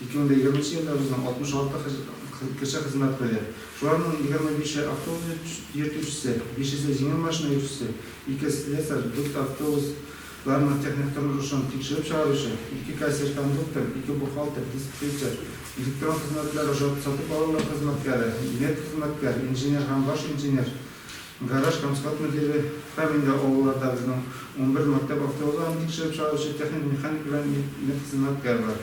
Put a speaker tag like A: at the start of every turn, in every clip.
A: 2020 нче елда безнең 66 кеше хезмәт куйды. Шуларның 25 е автобус йөртүчесе, бишесе җиңел машина йөртүчесе, ике слесарь, дүрт автобус ларның техник торышын тикшереп чыгаручы, ике кассир-кондуктор, ике бухгалтер, диспетчер, электрон хезмәтләр ошатып сатып алулар хезмәткәре, медхезмәткәр, инженер һәм баш инженер, гараж һәм склад мөдире һәм инде авылларда безнең унбер мәктәп автобус ларын тикшереп чыгаручы техник-механик белән медхезмәткәр бар.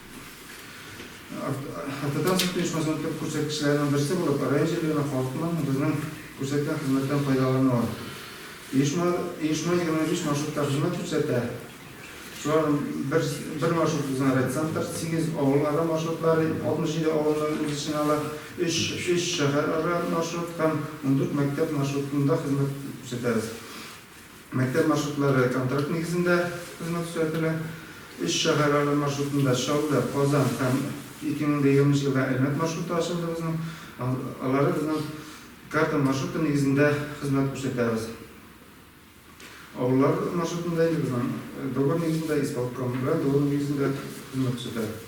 A: Автотранспорт оешмасының төп күрсәткечләренең берсе булып, район җирлегенә халыкның безнең күрсәткән хезмәттән файдалануы. Оешма 25 маршрутта хезмәт күрсәтә. Шуларның бер маршруты безнең райцентр, сигез авылара маршрутлары, 67 авылны үз эченә ала, өч шәһәрара маршрут һәм ундүрт мәктәп маршрутында хезмәт күрсәтәбез. Мәктәп маршрутлары контракт нигезендә хезмәт күрсәтелә. Өч шәһәрара маршрутында, Чаллы, Казан һәм 2020 елда Әлмәт маршруты ачылды безнең. Алары безнең карта маршруты нигезендә хезмәт күрсәтәбез. Авыллар маршрутында инде безнең договор нигезендә, исполком белән договор нигезендә хезмәт күрсәтәбез.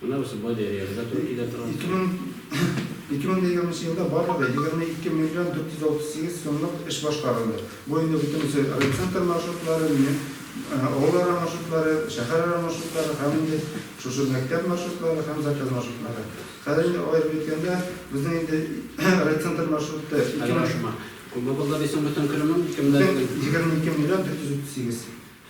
B: Менә бусы Болериягә дә туры килә транспорт.
A: 2020 елда барлыгы 22 миллион 438 сумлык эш башкарылды. Бу инде бөтенесе райцентр маршрутлары, авылара маршрутлары, шәһәрара маршрутлары һәм инде шушы мәктәп маршрутлары һәм заказ маршрутлары. Хәзер инде аерып әйткәндә, безнең инде райцентр маршруты. Күпме
B: булды дисең бөтен көлемең? 22
A: миллион 438.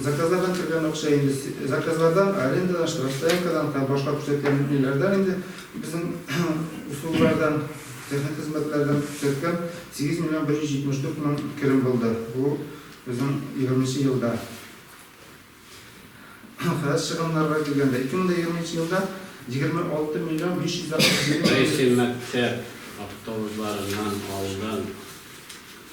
A: Заказлардан кергән акча инде заказлардан, арендадан, штрафстоянкадан һәм башка күрсәткән ниләрдән инде безнең услуглардан, техник хезмәтләрдән күрсәткән 8 миллион 174 мең керем булды. Бу безнең 20 нче елда. Фәс чыгымнарга килгәндә, 2020 нче елда 26 миллион 567 мең. Кайсы мәктәп
B: автобусларыннан алдан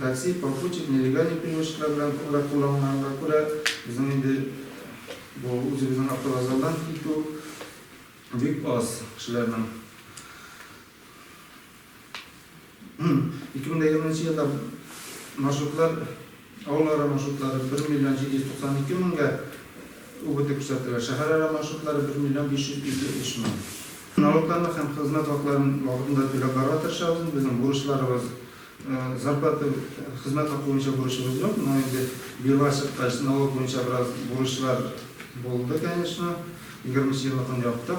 A: Такси, попутчик, нелегальный перевозчиклар белән күбрәк кулланганга күрә, безнең инде бу үзебезнең автовокзалдан китү бик аз кешеләрнең. 2020 елда маршрутлар Авылара маршрутлары бер миллион 792 меңгә үгеде күрсәтелә, шәһәрара маршрутлары бер миллион 553 мең. Налогларны һәм хезмәт хакларын вакытында түләп барырга тырышабыз. Безнең бурычларыбыз, зарплата, хезмәт хакы буенча бурычыбыз юк, но инде бюрога чыккач, налог буенча бераз бурычлар булды, конечно. Егерменче елны көн яптык.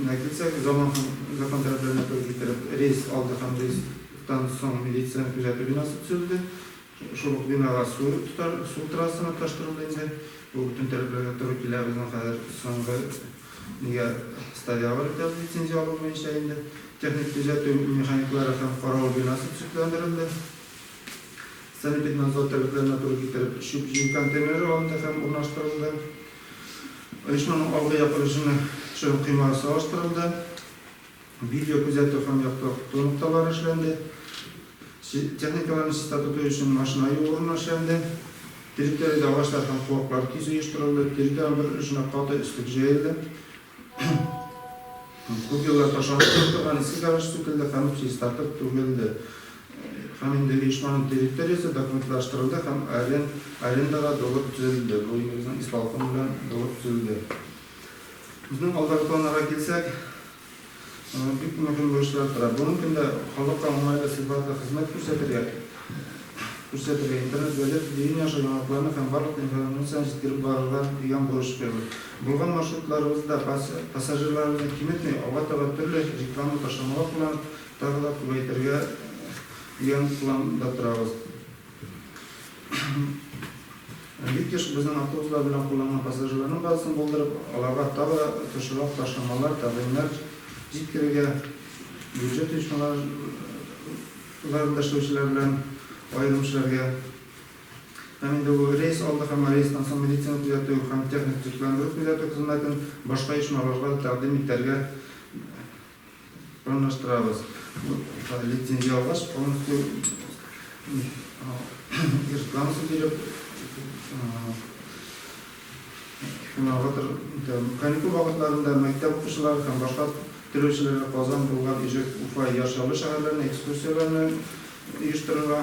A: Медицион зона һәм закон таләпләренә туры китереп, рейс алды һәм рейстан соң медицион күзәтү бинасы төзелде. Шул ук бинага су тотар, су трассаны тоташтырылды инде. Бу бөтен таләпләргә туры килә. Безнең хәзер соңгы нигә Старявар итәбез лицензия алу буенча инде. Техник күзәтү механиклары һәм каравыл бинасы төзекләндерелде. Санэпиднадзор таләпләренә туры китереп, чүп җыю контейнеры алынды һәм урнаштырылды. Оешманың алгы як режимы чын коймага салыштырылды, видео күзәтү һәм яктырту нокталары эшләнде, техникаларны чиста тоту өчен машина юу урыны эшләнде, территориядә агачлар һәм куаклар кизү оештырылды, территориянең бер өлешенә каты өслек җәелде, Күп еллар ташланып торган иске гараж сүтелде һәм чистартып түгелде. Һәм инде оешманың территориясе документлаштырылды һәм арендага булып төзелде. Бу инде безнең исполком белән булып төзелде. Безнең алдагы планнарга килсәк, Аңа бик мөһим бурычлар тора. Бүгенге көндә халыкка уңайлы сыйфатлы хезмәт күрсәтергә, күрсәтергә, интернет, газета, телевидение аша яңалыкларны һәм барлык информацияне җиткереп барырга дигән бурыч куябыз. Булган маршрутларыбызда пассажирларыбызны киметми, алга таба төрле реклама ташламалар кулланып, тагы да күбәйтергә дигән планда торабыз. Бик еш безнең автобуслар белән кулланган пассажирларның базасын булдырып, аларга тагы да тышрак ташламалар, тәкъдимнәр җиткерергә, бюджет оешмаларында эшләүчеләр белән аерым эшләргә һәм инде бу рейс алды һәм рейстан соң медицина төзәтү һәм техник төзекләндерү-төзәтү хезмәтен башка оешмаларга да тәкъдим итәргә Урнаштырабыз. Лицензия алгач, полностью рекламасын биреп, финалгатор каникул вакытларында мәктәп укучылары һәм башка теләүчеләргә Казан, Болгар, Иҗек, Уфа, Яр Чаллы шәһәрләренә экскурсияләрне оештырырга.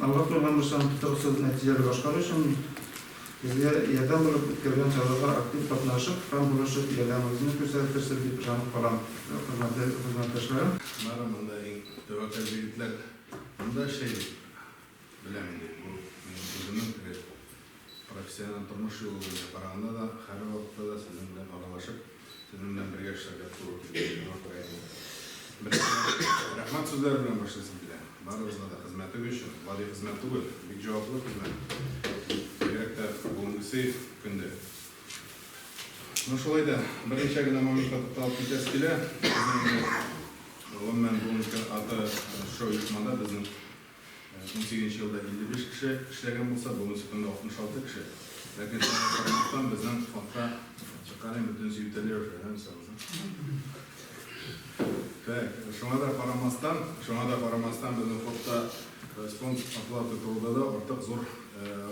A: Алга куелган бурычларны тотрыксыз, нәтиҗәле башкару өчен безгә ярдәм булып, үткәрелгән чараларга актив катнашып һәм булышып, ярдәмегезне күрсәтерсез дип ышанып калам, хөрмәтле хезмәттәшләрем. Аннары монда
C: иң тәвәккәл җегетләр монда эшли, беләм инде, бу минем үземнең теге профессиональ тормыш юлы буенча караганда да, һәрвакытта да сезнең белән аралашып, Сезнең белән бергә эшләргә туры килде. Миңа күрә инде. Беренче рәхмәт сүзләре белән башлыйсым килә. Барыгызга да хезмәтегез өчен. Гади хезмәт түгел, бик җаваплы хезмәт. Бигрәк тә бүгенгесе көндә. Ну шулай да берничә генә моментка тукталып китәсе килә. Безнең инде гомумән бүгенге аты шоу-оешмада безнең Унсигезенче елда 55 кеше эшләгән булса, бүгенге көндә 66 кеше. Ләкин шуңа карамастан, безнең фондка чыкканын бөтенесе йөтәлә уже, ә, Так, шуңа да карамастан, шуңа да карамастан безнең фондта фонд оплаты турында да артык зур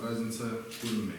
C: разница күренми.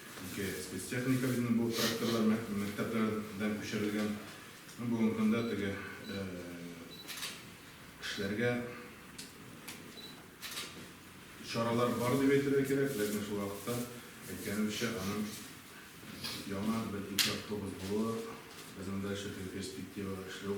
C: Ике спецтехника безнең бу тракторлар мәктәпләрдән күчерелгән. Бүгенге көндә теге эшләргә чаралар бар дип әйтергә кирәк, ләкин шул вакытта әйткәнемчә аның яңа бер ике автобус булуы, безнең дальше перспектива эшләү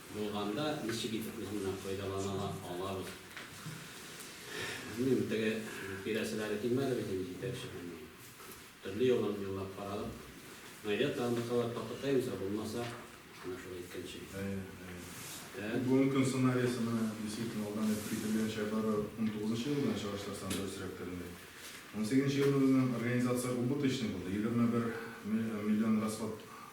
B: Булганда ничек итеп үзеннән файдалана алабыз? Белмим, теге бирәселәре килмәде бит инде җитәкчене. Төрле юлларын юллап карадык. Мәйдә тагында кабат тотыкаймыз, ә булмаса, менә шул әйткәнчә. Бүгенге
C: көн сценариясе менә действительно алдан әйтеп кителгәнчә бары 19 елдан чагыштырсаң дөресрәктер инде. 18 елның үзеннән организация убыточный булды, 21 миллион расход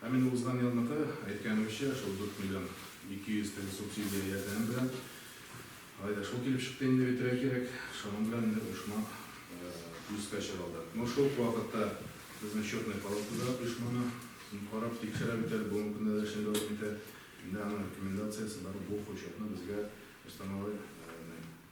C: Ә менә узган елныкы, әйткәнемчә, шул дүрт миллион ике йөз теге субсидия ярдәме белән, алай да шул килеп чыкты инде бит, эрә-кирәк, шуның белән инде оешма плюска чыга алды. Но шул ук вакытта безнең счетная палата да оешманы карап, тикшерә бит әле, бүгенге көндә дә эшен дәвам итә. Инде аның рекомендациясе бар, бу хочетны безгә установление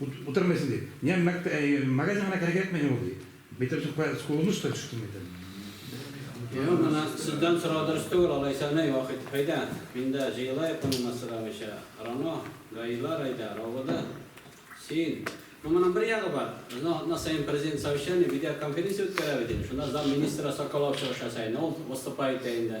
D: Утырмыйсың, ди. Миңа мәк, магазин гына кирәк ятмый ни ул, ди. Битем сукка, скулымны шытыр шикелле мәйтәм. Юк, моны
B: сездән сорау дөрес түгел, алайса, нәй, Вахит, әйдә, миндә җыелаек моны массыравыйча, Рано, Гаилар, әйдә, Равода, син. Ну, моның бер ягы бар, безнең атна саен президент совещание, видеоконференция үткәрәбез, дим, шунда зам министра Соколов чыгыш ясай, ну, ул выступай итә инде.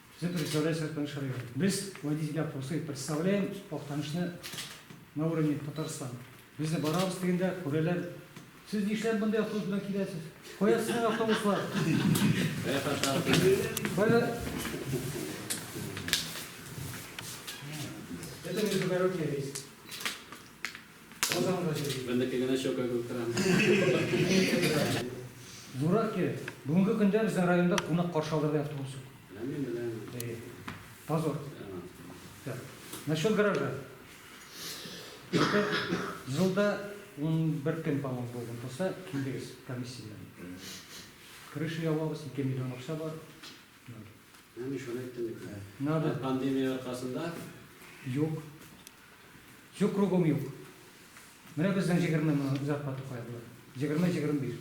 B: Все представляют
E: свой Актаныш район. Без водитель опросы представляем Актанышны на уровне Татарстана. Без дә барабыз дигәндә күрәләр. Сез нишләп монда автобус белән киләсез? Кая сезнең автобуслар? Кая Это междугородний рейс.
B: Бендеке генә чока күк тора.
E: Зурак кирәк. Бүгенге көндә безнең районда кунак каршы алырдай автобус юк. Беләм, беләм.
B: Позор.
E: Так. Насчет гаража. Жылда 11 көн, по-моему, булган булса, килдегез комиссия белән. Крыша ябабыз, 2 миллион акча бар.
B: Мин шуны әйттем бит. Надо. Пандемия
E: аркасында.
B: Юк.
E: Юк кругом юк. Менә безнең җегерме мең зарплата куядылар. Җегерме, җегерме биш.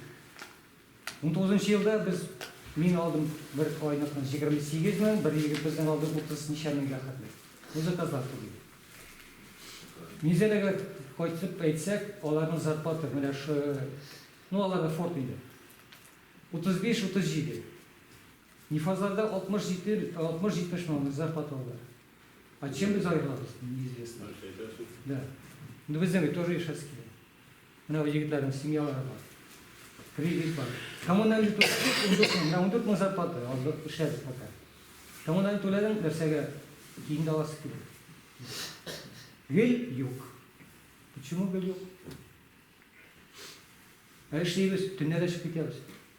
E: Ун тугызынчы елда без мин алдым бер айныкны җегерме сигез мең, бер егет безнең алды утыз ничә меңгә хәтле. Бу заказлар түгел. Низәләгә кайтып әйтсәк, аларның зарплата менә шу, ну аларда форт инде. Утыз биш, утыз җиде. Нифазларда алтмыш җиде, алтмыш җитмеш мең зарплата алалар. А чем без аерылабыз, неизвестно. Нәрсә әйтәсең? Да. Ну, безнең бит тоже Ишәские. Менә бу егетләрнең семьялары бар. Кризис бар. Коммунальный түләдек, ундүрт мең, менә ундүрт мең зарплата алдык, эшләдек пока. Коммунальный түләдең, нәрсәгә кием дә аласы килә. Гел юк. Почему гел юк? Ә эшлибез, төннә дә чыгып китәбез.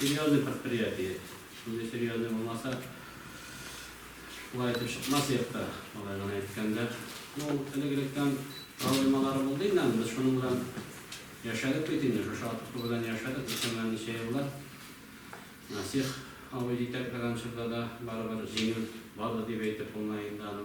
B: Серьезный предприятие. Шундый серьезный булмаса, шулай итеп чыкмас идек тә, алай гына әйткәндә. Ну, элек-электән проблемалары булды инде аны, без шуның белән яшәдек бит инде, шушы атыку белән яшәдек, үткән ничә еллар. Насих абый җитәкләгән чорда да барыбер җиңел барды дип әйтеп булмый инде аны.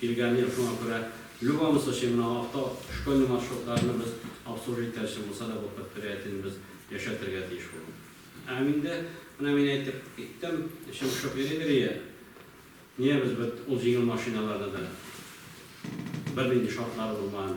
B: Килгән ел шуңа күрә любому случаю менә авто школьный маршрутларны без обслужить итәрче булса да бу предприятиене без яшәтергә тиеш булдык. Һәм инде менә мин әйтеп киттем, эчем пошып йөри-йөрие, ниябез бит ул җиңел машиналарны да бернинди шартлары булмаган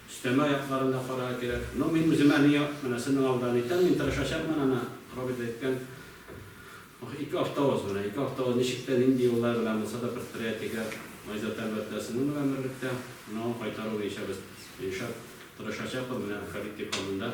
B: Өстәмә аякларын да карарга кирәк. Ну, мин үземә ни як, менә сезнең алдан әйтәм, мин тырышачакмын, ана, Роберт да әйткән, ох, ике автовоз менә, ике автовоз ничек тә, нинди юллар белән булса да предприятиегә Айзат, әлбәттә, сезнең белән берлектә, но кайтару буенча без, Илшат, тырышачакбыз, менә Фәрит дип алдында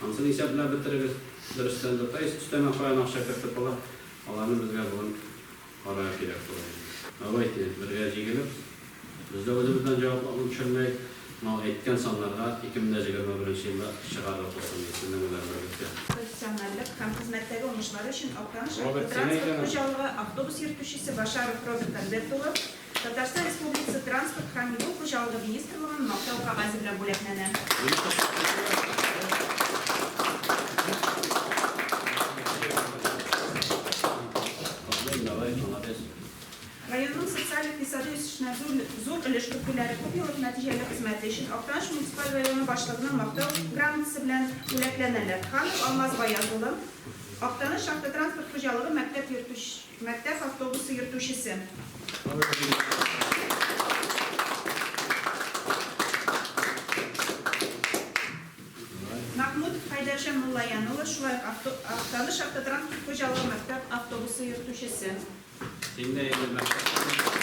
B: Ансын исәпләп бетерегез. Дөрестән дә, то есть өстәмә каян акча кертеп була, аларны безгә бүген карарга кирәк була инде. Давайте, бергә җигелеп, без дә үзебездән җавап алып төшермәик, мал әйткән саннарга 2021 нче елда чыгарлык булсын ди, сезнең беләнегезгә. Профессиональлек һәм хезмәттәге уңышлары өчен Актаныш автотранспорт хуҗалыгы
F: автобус йөртүчесе Башаров Роберт Альберт улы Татарстан Республикасы Транспорт һәм юл хуҗалыгы министрлыгының Мактау кәгазе белән бүләкләнә. Районның социаль-икътисади үсешенә зур өлеш кертүләре, күпьеллык нәтиҗәле хезмәте өчен Актаныш муниципаль районы башлыгының Мактау грамотасы белән бүләкләнәләр. Ханов Алмаз Гаяз улы, Актаныш шахтатранспорт хуҗалыгы мәктәп йөртүче. Мәктәп автобусы йөртүчесе. Мәхмүт Хайдарҗан Муллаян улы, шулай ук авто, Актаныш автотранспорт хуҗалыгы мәктәп автобусы йөртүчесе. Инде инде мәктәп.